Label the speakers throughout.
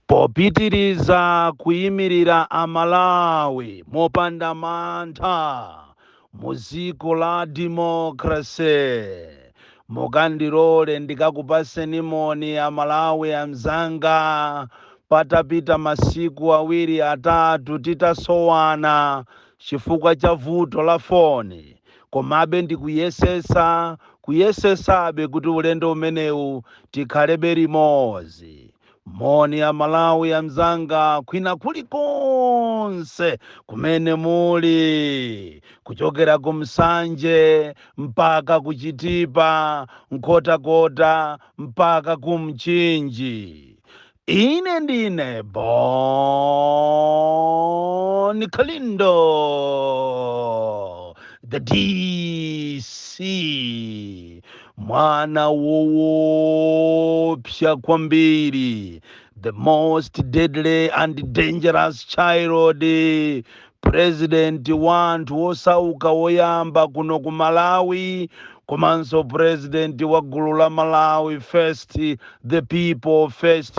Speaker 1: popitiriza kuyimirira Amalawi mopanda mantha mu dziko la democracy. Mukandilole ndikakupaseni moni Amalawi anzanga patapita masiku awiri atatu titasowana chifukwa cha vuto la foni. komabe ndikuyesetsa kuyesetsabe kuti ulendo umenewu tikhalebe limodzi moni Amalawi anzanga kwina kulikonse kumene muli kuchokera ku Nsanje mpaka ku Chitipa Nkhotakota mpaka ku Mchinji Ine ndine Bon Kalindo, the DC, mwana woopsa kwambiri, the most deadly and dangerous child President wa anthu osauka woyamba kuno ku Malawi komanso president wa gulu la Malawi first, the people first,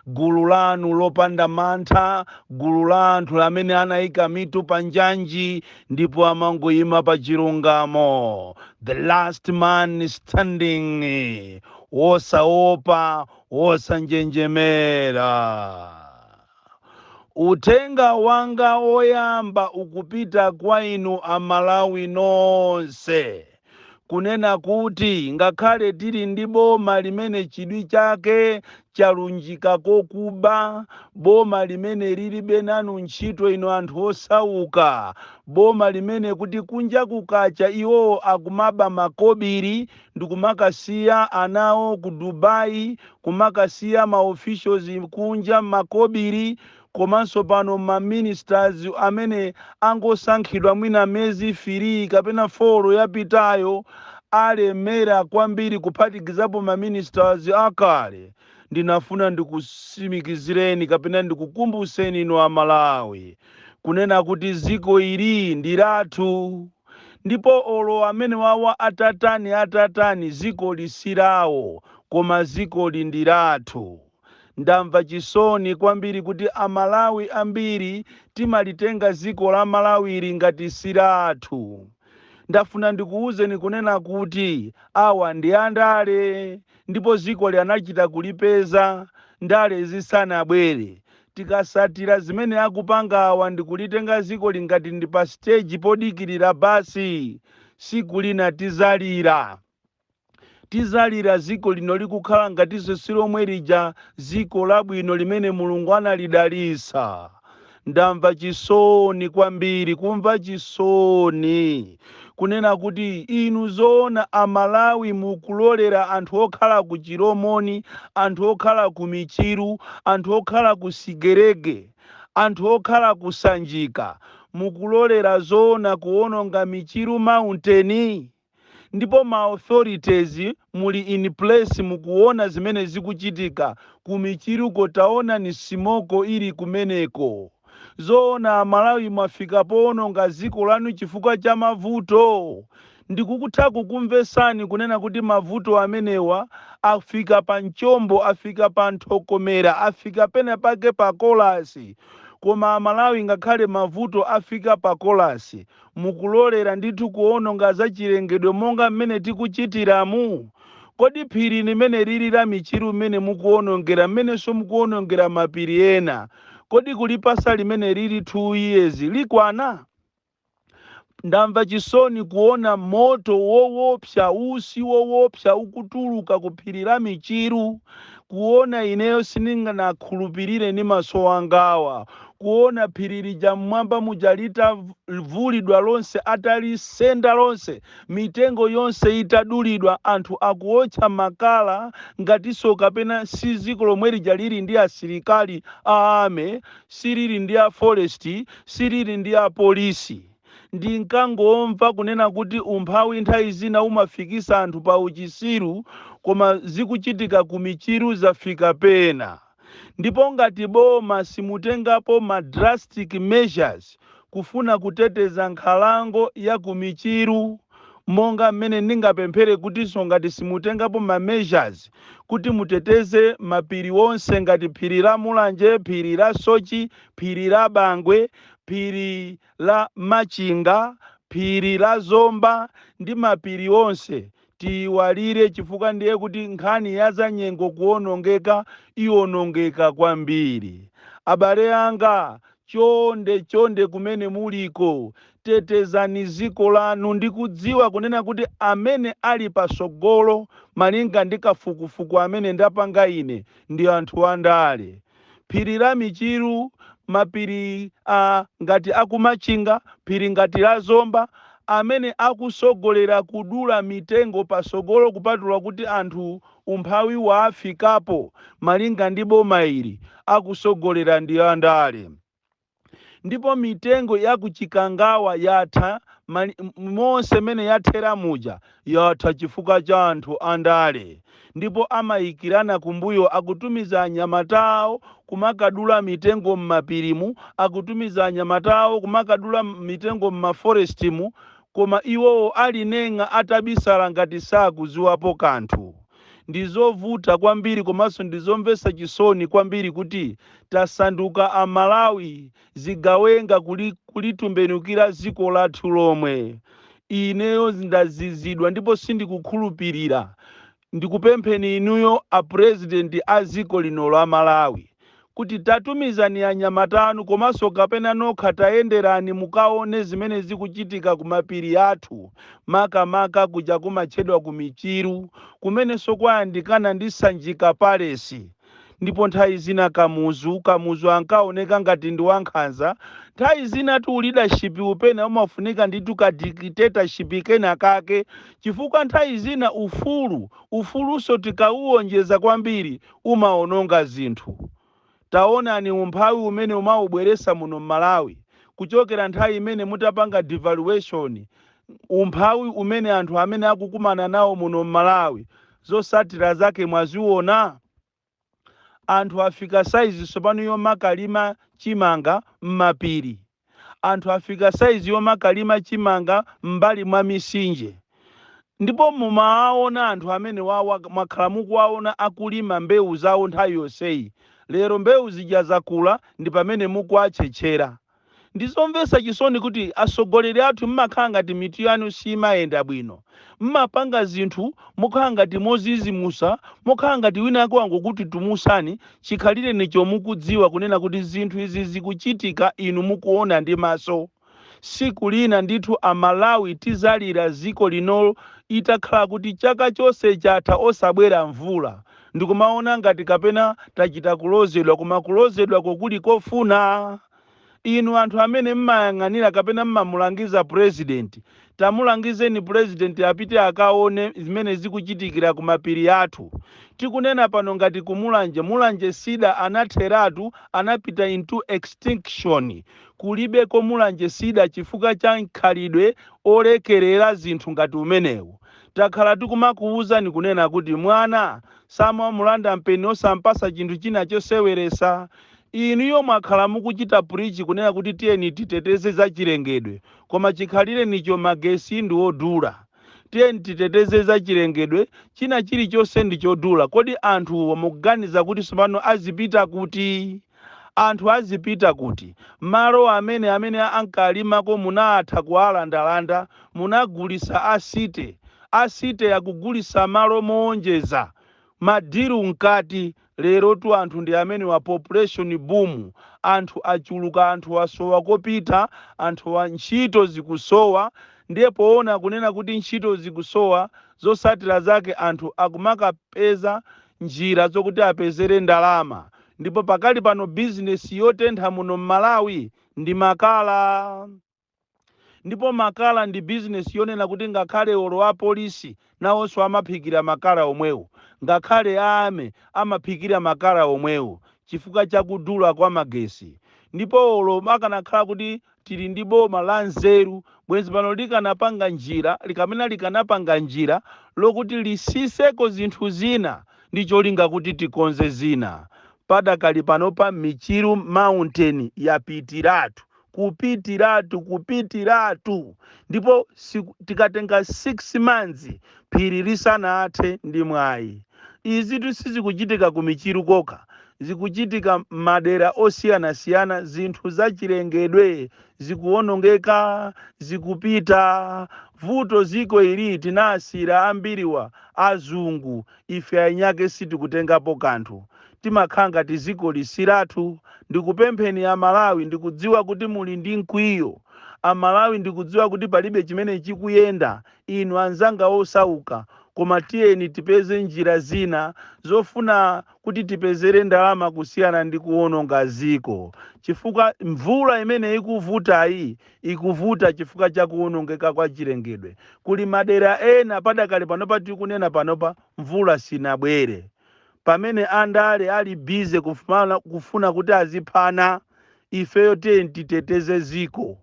Speaker 1: gulu lanu lopanda mantha, gulu la anthu amene anaika mitu pa njanji ndipo amangoima pa chilungamo, the last man standing, wosaopa, wosanjenjemera. Uthenga wanga woyamba ukupita kwa inu a Malawi nonse kunena kuti ngakhale tili ndi boma limene chidwi chake chalunjika kokuba, boma limene lilibe nanu ntchito inu anthu osauka, boma limene kuti kunja kukacha iwowo akumaba makobili, ndikumakasiya anawo ku Dubai kumakasiya ma officials kunja makobili komanso pano ma ministers amene angosankhidwa mwina mezi fili kapena folo yapitayo alemera kwambiri kuphatikizapo ma ministers akale ndinafuna ndikusimikizireni kapena ndikukumbuseni inu amalawi kunena kuti ziko ili ndilathu ndipo olo amenewawa atatani atatani zikoli silawo koma zikoli ndilathu. Ndamva chisoni kwambiri kuti a Malawi ambiri timalitenga ziko la Malawili ngati silathu. Ndafuna ndikuuzeni kunena kuti awa ndi andale ndipo zikoli anachita kulipeza ndale zisanabwere Tikasatira zimene akupanga awa ndikulitenga ziko li ngati ndi pa stage podikirira bus siku lina tizalira. Tizalira ziko lino likukhala ngatinso si lomwe lija ziko labwino limene mulungu analidalisa. Ndamva chisoni kwambiri kumva chisoni kunena kuti inu zoona a Malawi mukulolera anthu okhala ku Chilomoni, anthu okhala ku Michiru, anthu okhala ku Sigerege, anthu okhala ku Sanjika mukulolera zoona kuononga Michiru Mountain? Ndipo ma authorities muli in place mukuona zimene zikuchitika ku Michiruko taonani simoko ili kumeneko. zoona amalawi mwafika poononga ziko lanu chifukwa cha mavuto? ndikutha kukumvesani kunena kuti mavuto amenewa afika pa mchombo afika pa nthokomera afika pena pake pa kolasi koma amalawi ngakhale mavuto afika pa kolasi Mukulolera ndithu kuononga zachilengedwe monga mmene tikuchitiramu? Kodi phiri limeneli la Michiru mmene mukuonongera mmenenso mukuonongera mapiri ena, kodi kulipasa limeneli two years likwana? Ndamva chisoni kuona moto wowopsa, usi wowopsa ukutuluka ku phiri la Michiru. kuona, ineyo sindinakhulupirire ndi maso angawa, kuona phiri lija m'mwamba muja litavulidwa lonse, atalisenda lonse, mitengo yonse itadulidwa, anthu akuotcha makala ngatinso kapena si dziko lomwe lija lili ndi asilikali a army, silili ndi a forest, silili ndi apolisi. Ndinkangomva kunena kuti umphawi nthawi zina umafikisa anthu pa uchisiru koma zikuchitika ku Michiru zafika pena ndipo ngati boma simutengapo ma drastic measures kufuna kuteteza nkhalango ya ku Michiru monga mmene ndingapemphere kutinso ngati simutengapo ma measures kuti muteteze mapiri onse ngati phiri la Mulanje, phiri la Soche, phiri la Bangwe, phiri. la Machinga, phiri la Zomba ndi mapiri onse tiyiwalire chifukwa ndiye kuti nkhani ya zanyengo kuonongeka ionongeka kwambiri. Abale anga chonde chonde kumene muliko tetezani dziko lanu ndikudziwa kunena kuti amene ali patsogolo malinga ndi kafukufuku amene ndapanga ine ndi anthu andale. phiri la Michiru, mapiri a ngati a ku Machinga, phiri ngati la Zomba amene akusogolera kudula mitengo pasogolo kupatula kuti anthu umphawi waafikapo malinga ndi bomayili akusogolera ndi andale. ndipo mitengo ya ku Chikangawa yatha mali- m- monse mene yathera muja yatha chifukwa cha anthu andale ndipo amayikirana kumbuyo akutumiza anyamata awo kumakadula mitengo m'mapirimu akutumiza anyamata awo kumakadula m- mitengo m'maforestimu koma iwowo ali nenga atabisala ngati sakuziwapo kanthu Ndi zovuta kwambiri komanso ndi zomvetsa chisoni kwambiri kuti tasanduka a Malawi zigawenga kulitembenukira dziko lathu lomwe. Ineyo ndazizidwa ndipo sindikukhulupilira. Ndikupempheni inuyo a President a dziko lino la Malawi. kuti tatumizani anyamata anu komanso kapena nokha tayenderani mukaone zimene zikuchitika kumapiri athu makamaka kuja kumatchedwa ku Michiru kumenenso kwayandikana ndi Sanjika Palace ndipo nthawi zina Kamuzu Kamuzu ankaoneka ngati ndi wankhanza nthawi zinatu u leadership-u pena umafunika ndithu ka dictatorship kena kake chifukwa nthawi zina ufulu ufulunso tikauwonjeza kwambiri umawononga zinthu. Taonani umphawi umene mwaubweretsa muno m'Malawi kuchokera nthawi imene mutapanga devaluation, umphawi umene anthu amene akukumana nawo muno m'Malawi zotsatira zake mwaziona? Anthu afika size tsopano yomakalima chimanga m'mapiri. anthu afika size yomakalima chimanga m'mbali mwa misinje ndipo mumawaona anthu amenewawa mwakhala mukuwaona akulima mbewu zawo nthawi yonseyi lero mbewu zija zakula ndipamene mukuwatchetchera. Ndizomvetsa chisoni kuti atsogoleri athu mmakhala ngati mitu yanu simayenda bwino. mmapanga zinthu mokhala ngati mozizimusa, mokhala ngati wina wake wangokutitimusani, chikhalirenicho mukudziwa kunena kuti zinthu izi zikuchitika inu mukuona ndi maso. siku lina ndithu a Malawi tizalira ziko lino litakhala kuti chaka chonse chatha osabwera mvula ndikumaona ngati kapena tachita kulozedwa koma kulozedwako kuli kofuna? Inu anthu amene mmayang'anira kapena mmamulangiza president, tamulangizeni president apite akaone zimene zikuchitikira ku mapiri athu. Tikunena pano ngati ku Mulanje, Mulanje Cedar anatheratu, anapita into extinction. Kulibeko Mulanje Cedar chifukwa cha mkhalidwe olekerera zinthu ngati umenewu. Takhala tikumakuwuzani kunena kuti mwana samamulanda mpeni osampatsa chinthu china choseweretsa. Inuyo mwakhala mukuchita preach kunena kuti tiyeni titeteze za chilengedwe koma chikhalirenicho magesi ndi odula. Tiyeni titeteze za chilengedwe, china chilichonse ndi chodula. Kodi anthuwo mukuganiza kuti tsopano azipita kuti? Anthu azipita kuti? Malo amene ankalimako munaatha kualandalanda, munagulitsa a city. A city akugulitsa malo moonjeza. Ma deal mkati. Lerotu anthu ndi amenewa population boom anthu achuluka anthu asowa kopita anthu a ntchito zikusowa ndiye poona kunena kuti ntchito zikusowa zotsatira zake anthu akumakapeza njira zokuti apezere ndalama ndipo pakali pano business yotentha muno mmalawi ndi makala Ndipo makala ndi bizinesi yonena kuti ngakhale olo a polisi nawonso amaphikira makala omwewo, ngakhale a army amaphikira makala omwewo chifukwa cha kudula kwa magesi. Ndipo olo akanakhala kuti tili ndi boma la nzeru bwenzi pano likanapanga njira kapena likanapanga njira lokuti lisiseko zinthu zina ndi cholinga kuti tikonze zina. Padakali panopa Michiru mountain yapitiratu kupitiratu kupitiratu ndipo tikatenga 6 months phiri lisanathe ndi mwayi izitu sizikuchitika ku michiru kokha zikuchitika madera osiyanasiyana zinthu zachilengedwe zikuwonongeka zikupita vuto ziko ili tinasiyira ambiriwa azungu Ife eniake sitikutengapo kanthu timakhala ngati zikoli silathu ndikupempheni a Malawi ndikudziwa kuti muli ndi mkwiyo a Malawi ndikudziwa kuti palibe chimene chikuyenda inu anzanga osauka koma tiyeni tipeze njira zina zofuna kuti tipezere ndalama kusiyana ndi kuononga ziko chifukwa mvula imene ikuvutayi ikuvuta chifukwa cha kuwonongeka kwa chilengedwe. Kuli madera ena padakali panopa tikunena panopa mvula sinabwere. Pamene andale ali busy kufuna kuti aziphana, ifeyo tiyeni titeteze dziko.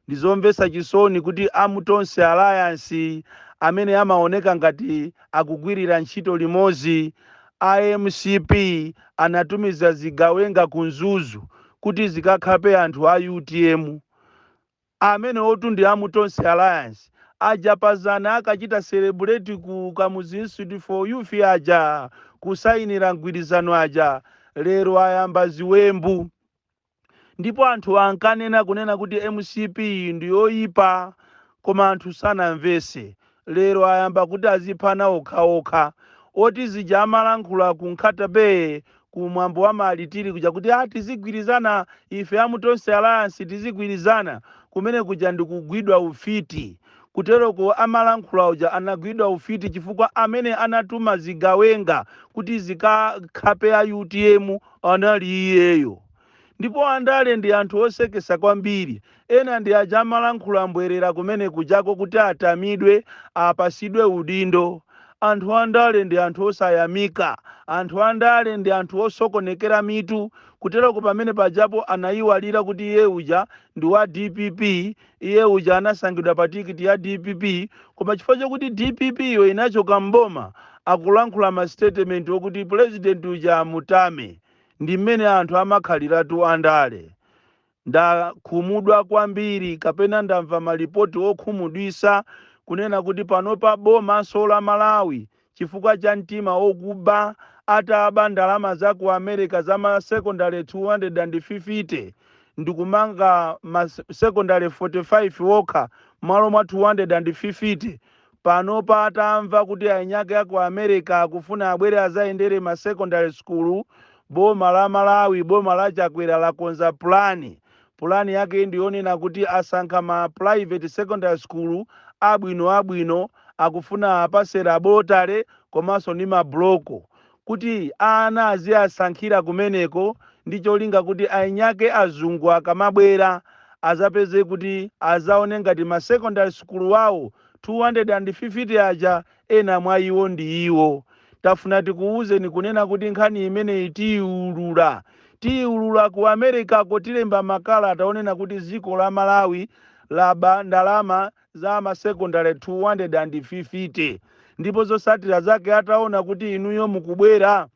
Speaker 1: Ndizomvetsa chisoni kuti a mu Tonse Alliance amene amaoneka ngati akugwirira ntchito limodzi a mcp anatumiza zigawenga ku Mzuzu kuti zikakhape anthu a utm amenewotu ndi a mu Tonse Alliance aja pazana akachita celebrate ku Kamuzu Institute for Youth aja kusayinira mgwirizano aja lero ayamba ziwembu ndipo anthu ankanena kunena kuti mcp ndi yoyipa koma anthu sanamvese lero ayamba kuti aziphana okhaokha oti zija amalankhula ku nkhatabay ku mwambo wa ma martyrs kuja akuti tizigwirizana ife a mu tonse alliance tizigwirizana kumene kuja ndikugwidwa ufiti kuteroko amalankhula uja anagwidwa ufiti chifukwa amene anatuma zigawenga kuti zikakhape a utm anali iyeyo ndipo andale ndi anthu osekesa kwambiri ena ndi aja amalankhula mbwerera kumene kujako kuti atamidwe apasidwe udindo anthu andale ndi anthu osayamika anthu andale ndi anthu osokonekera mitu kuteroko pamene pajapo anayiwalira kuti iye uja ndi wa dpp iye uja anasankhidwa pa tikiti ya dpp koma chifukwa chokuti dpp iyo inachoka mboma akulankhula masitetementi okuti pulezidenti uja amutenge ndi mmene anthu amakhaliratu andale. Ndakhumudwa kwambiri kapena ndamva malipoti okhumudwisa kunena kuti panopa bomanso la Malawi chifukwa cha mtima okuba ataba ndalama za ku America za ma secondary 250 ndikumanga ma secondary 45 okha mmalo mwa 250 panopa atamva kuti eni ake a ku America akufuna abwere azayendere ma secondary school, boma la Malawi, boma la Chakwera lakonza plan. Plan yakeyi ndi yonena kuti asankha ma private secondary school abwino abwino, akufuna apatse laboratory komanso ndi ma block. kuti ana aziasankhira kumeneko ndi cholinga kuti eni ake azungu akamabwera azapeze kuti azaone ngati ma secondary school awo 250 aja ena mwa iwo ndi iwo. Tafuna tikuwuzeni kunena kuti nkhani imeneyi tiyiwulula. Tiyiwulula ku Americako tilemba makalata onena kuti dziko la Malawi laba ndalama za ma secondary 250 ndipo zosatira zake ataona kuti inuyo mukubwera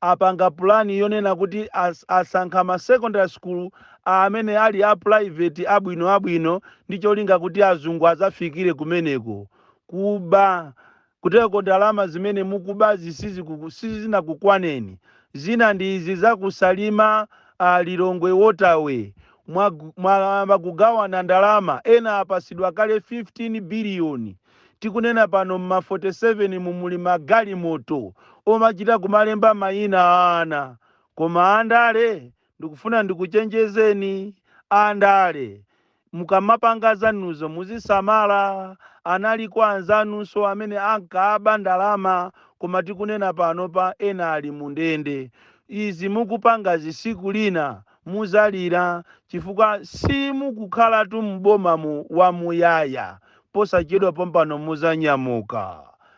Speaker 1: apanga pulani yonena kuti as, asankha ma secondary school amene ali a private abwino abwino ndi cholinga kuti azungu azafikire kumeneko kuba Kuteko ndalama zimene mukubazi sizikuku sizinakukwaneni zina ndi izi za ku Salima a Lilongwe water way mwag mwayamba kugawana ndalama ena apasidwa kale 15 billion tikunena pano mma 47 mu muli ma galimoto omachita kumalemba mayina a ana koma andale Ndikufuna ndikuchenjezeni a ndale mukamapanga zanuzo muzisamala, analiko anzanunso amene ankaba ndalama koma tikunena panopa ena ali mu ndende. Izi mukupangazi siku lina muzalira chifukwa simukukhalatu m'bomamu wamuyaya, posachedwa pompano muzanyamuka.